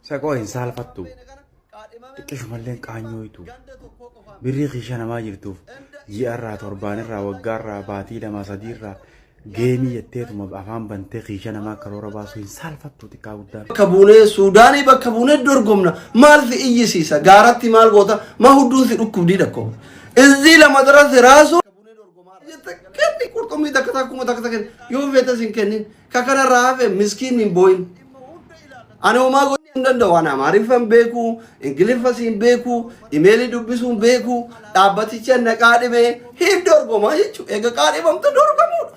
Saqoo hin saalfattu. Xiqqishumalleen qaanyooytu. Birrii kiisha namaa jirtuuf ji'arraa torbaanirraa waggaarraa baatii lamaa sadiirraa geemii jetteetuma afaan bantee kiisha namaa karoora baasuu hin saalfattu xiqqaa guddaan. bakka buunee suudaanii bakka buunee dorgomna maal si iyyisiisa gaaratti maal goota ma hudduun si dhukkubdii dhakkoo izzii lama darasi raasuu Kenni qurxummii takka takka kuma takka takka yoo feetes hin kennin. Ka kanarraa hafe miskiinni hin booyin. Ani homaa gochuu hin danda'u. Ani Amaariffa hin beeku, Ingiliffas hin beeku, imeelii dubbisuu hin beeku. Dhaabbaticha na qaadhimee hin dorgomaa jechuudha. Egaa qaadhimamtu dorgamuudha.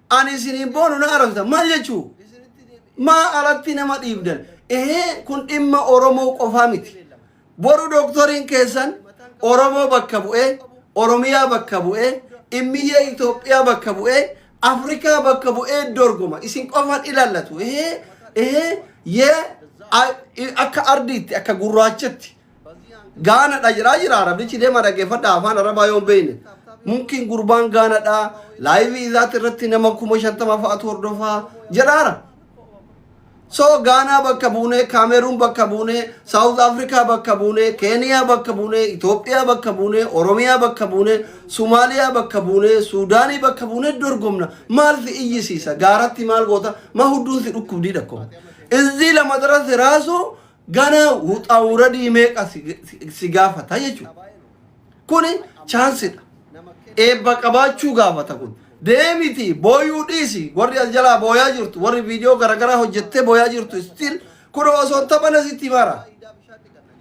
Ani isiniin boonu na arrabsitan. Maal jechuu? Maa alatti nama dhiibdan? Ehee kun dhimma Oromoo qofaa miti. Boru dooktoriin keessan Oromoo bakka bu'ee, Oromiyaa bakka bu'ee, immiyyee Itoophiyaa bakka bu'ee, Afrikaa bakka bu'ee dorgoma. Isin qofaan ilaallatu. Ehee ehee yee a- i- akka ardiitti, akka gurraachatti Gaana dha jiraa jiraa rabichi deema dhaggeeffadha afaan arabaa yoon beeyne mumkin gurbaan gaana dha laayivii isaatti irratti nama kuma shantama fa'atu hordofaa jedhaara. So gaanaa bakka buune kaameruun bakka buune saawuz afrikaa bakka buune keeniyaa bakka buune itoophiyaa bakka buune oromiyaa bakka buune sumaaliyaa bakka buune suudaanii bakka buune dorgomna maal si iyyisiisa gaaratti maal goota ma hudduun si dhukkubdiidha ko izzii lama darasi raasuu Gana wuxaa wuradii meeqa si- si- si gaafata jechuudha. Kuni chaansidha. Eebba qabaachuu gaafata kun. Deemiti booyuu dhiisi warri as jalaa booyaa jirtu warri viidiyoo garaagaraa hojjettee booyaa jirtu still kun osoo hin taphana sitti mara.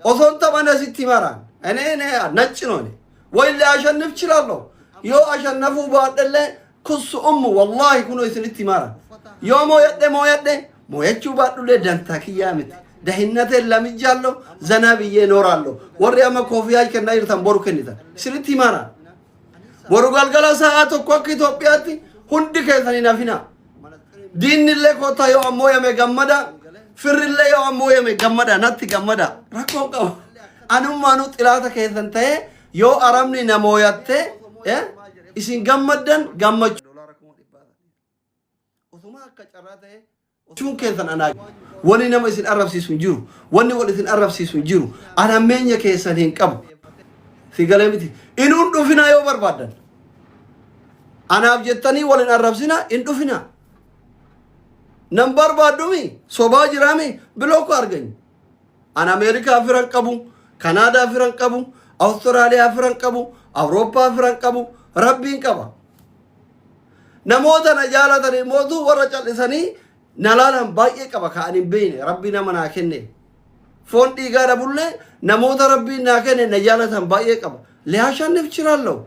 Osoo hin taphana sitti mara. Ene ene naccinoone. Wayillee ashannif chilaallo. Yoo ashannafuu baadhellee Kussu ummu wallahi kuno isinitti himaara yoo mooyadhe mooyadhe mooyachuu baadhullee dantaa kiyyaa miti dahinnateen lamijjaallo zanaa biyyee nooraallo warri amma koofiyaa kennaa jirtan boru kennitan isinitti himaara boru galgala sa'aa tokko akka Itoophiyaatti hundi keessan hin hafinaa diinnillee kootaa yoo ammoo yame gammada firrillee yoo ammoo yame gammada natti gammada rakkoon qaba anummaanuu xilaata keessan ta'ee Yoo Arabni na mooyatte eh, isin gammaddan gammachuun keessan anaa wani nama isin arrabsiisu hin jiru wani wal isin arrabsiisu hin jiru an hammeenya keessan hin qabu si galee miti inuun dhufinaa yoo barbaaddan anaaf jettanii wal hin arrabsina hin dhufinaa nan barbaaddumi sobaa jiraami biloo ko arganyu An Ameerikaa firan qabu, Kanaadaa firan qabu, Awustiraaliyaa firan qabu, Awurooppaa firan qabu, Rabbiin qaba. Namoota na jaalatan immoo warra cal'isanii na laalan baay'ee qaba ka ani hin beekne rabbi nama naa kenne. Foon dhiigaa dhabullee namoota rabbiin naa kenne na jaalatan baay'ee qaba. Liyaashannif chiraallahu.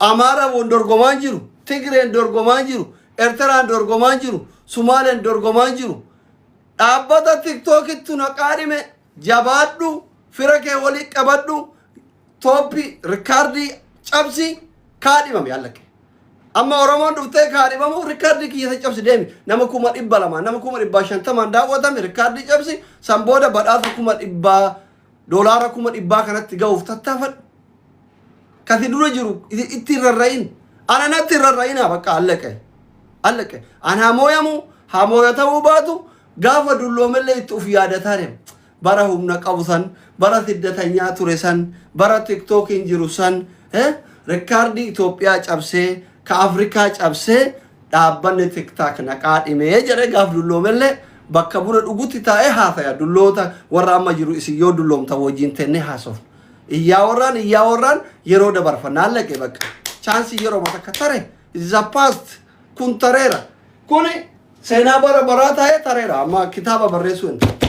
Amaaraan wal dorgomaan jiru, Tigreen dorgomaan jiru, Ertiraan dorgomaan jiru, Sumaaleen dorgomaan jiru. Dhaabbata tiktookittu na qaadhime jabaadhu fira kee walii qabadhu tooppi rikaardii cabsi kaadhimame allake. Amma Oromoon dhuftee kaadhimamu rikaardii kiyyasa cabsi deemi. Nama kuma dhibba lama, nama kuma dhibba shantamaan daawwatame rikaardii cabsi san booda badhaasa kuma dhibba Doolaara kuma dhibbaa kanatti ga'uuf tattaafadhu. Kati dura jiru itti hin rarra'in. Ana natti hin rarra'inaa bakka allaqe. Allaqe. An haa mooyamu haa mooyatamuu baatu gaafa dulloomellee itti of yaadataa deema. Bara humna qabu san, bara siddatanyaa ture san, bara tiktookiin jiru san, eh, rikkaardii Itoophiyaa cabsee, ka Afrikaa cabsee Dhaabbanni TikTok na qaadhime jedhee gaaf dulloomellee bakka buna dhugutti taa'ee haasaya. Dulloota warra amma jiru isin yoo dulloomtan wajjin tennee haasofna. Iyyaa warraan iyyaa warraan yeroo dabarfanna. Hallaqe bakka. Chaansii yeroo takka tare. It is a past. Kun tareera. Kuni seenaa bara baraa taa'ee tareera. Amma kitaaba barreessuu hin ta'a.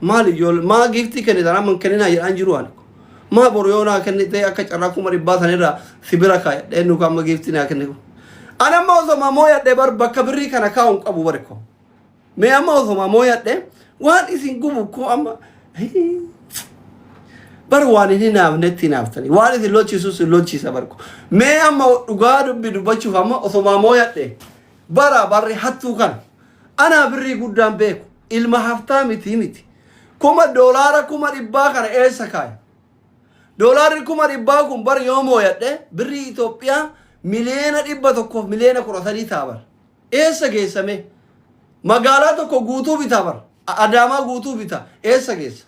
Maali ijoollee maa giiftii kennitan amma hin kenninaa jedhaan jiru ani. Maa boru yoo naa kennitee akka carraa kuma dhibbaa sanirraa si bira kaayadhee nuuka amma giiftii naa kenniku. Ani amma osoma mooyadhe bar bakka birrii kana kaa'u hin qabu bari ko. Mee amma osoma mooyadhe waan isin gubu ko amma bar waan hin hinaafnetti hinaaftani. Waan isin lolchiisus hin lolchiisa barko. Mee amma dhugaa dubbi dubbachuuf amma osoma mooyadhe bara barri hattuu kana. Anaa birrii guddaan beeku ilma haftaamitii miti. Kuma doolaara kuma dhibbaa kana eessa kaaye? Doolaarri kuma dhibbaa kun bar yoo mooyadhe birrii Itoophiyaa miliyeena dhibba tokkoof miliyeena kudha sadii ta'a bar. Eessa geessa mee? Magaalaa tokko guutuu bita bar. Adaamaa guutuu bita. Eessa geessa?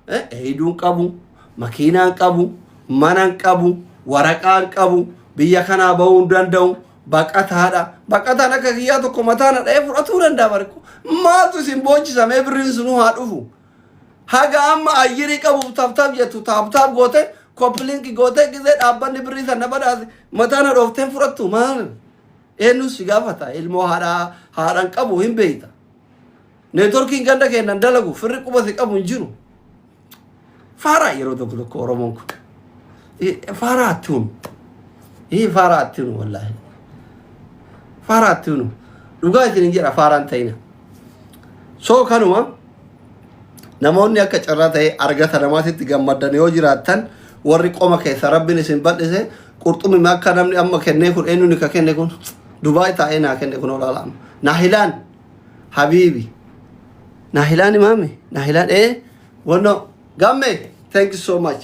Heeyiduun qabu, makiinaan qabu, manan qabu, waraqaan qabu, biyya kanaa bahuu hin danda'u, baqataadha. Baqataan akka kiyyaa tokko mataan dha'ee fudhatuu danda'a barko. Maaltu isin boochisamee birriin sunuu haa dhufu. Haga amma ayyirii qabuuf taaptaap jettu taaptaap goote koppilinki goote gizee dhaabbanni birrii sana badhaase mataan hadhooftee fudhattu maal? Eenyuun si gaafata ilmoo haadhaa haadhaan qabu hin beeyta. Networkiin ganda keennan dalagu firri quba si qabu hin jiru. Faaraa yeroo tokko tokko Oromoon kun. Eh, Faaraa atti hunu. Hii faaraa atti hunu wallaahi. Faaraa atti hunu. Dhugaa isin hin jedha faaraan ta'ina. So kanuma namoonni akka carraa ta'e argata namaatitti gammaddan yoo jiraattan warri qoma keessa rabbiin isin bal'ise qurxummii akka namni amma kennee kun eenyuun ka kenne kun Dubaay taa'ee naa kenne kun olaalaama. Naa hilaan habiibi naahilaan imaame naahilaan ee wanno gamme thank you so much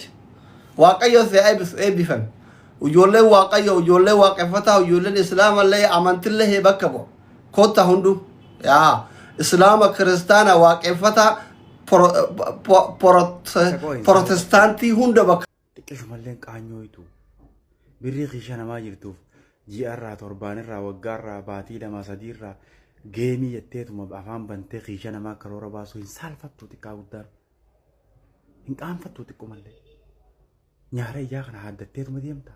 waaqayyo si eebbisu eebbifame ijoolleen waaqayyo ijoolleen waaqeffataa ijoolleen islaamallee amantillee bakka bu'a kotta hunduu yaa islaama kiristaana waaqeffataa pro- pro- pro- protestaantii hunda bakka Xiqqishumalleen qaanyooytu. Birrii kiisha namaa jirtuuf ji'arraa, torbaanirraa, waggaarraa, baatii lamaa, sadiirraa geemii jetteetuma afaan bantee kiisha namaa karoora baasuu hin saalfattu xiqqaa guddaan. Hin qaanfattu xiqqumallee. Nyaara ijaa kana haaddatteetuma deemta.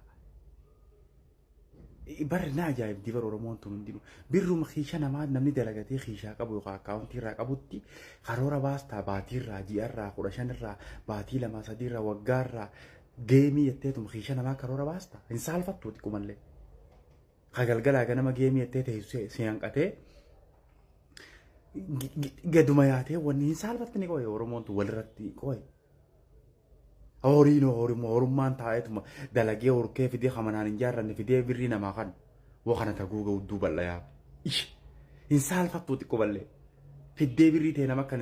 Barri na ajaa'ibdi bara Oromoon tun hundinuu. Birruma kiisha namaa namni dalagatee kiishaa qabu yookaan akkaawuntii irraa qabutti karoora baastaa baatii irraa ji'a irraa kudha shan irraa baatii lamaa sadii irraa waggaa irraa geemii jetteetuma kiisha namaa karoora baastaa hin saalfattu xiqqumallee. Ka galgalaa ganama geemii jettee teessee si hanqatee gaduma yaatee wanni hin saalfattine qoye Oromoon tun walirratti qoye. Horiin horuma horummaan taa'eetuma dalagee horkee fidee hamanaan hin jaarranne fidee birrii namaa kan waa kana taguu ga'u duubal'ayaa. Ish hin saalfattuu xiqqoo ballee fiddee birrii ta'e nama kan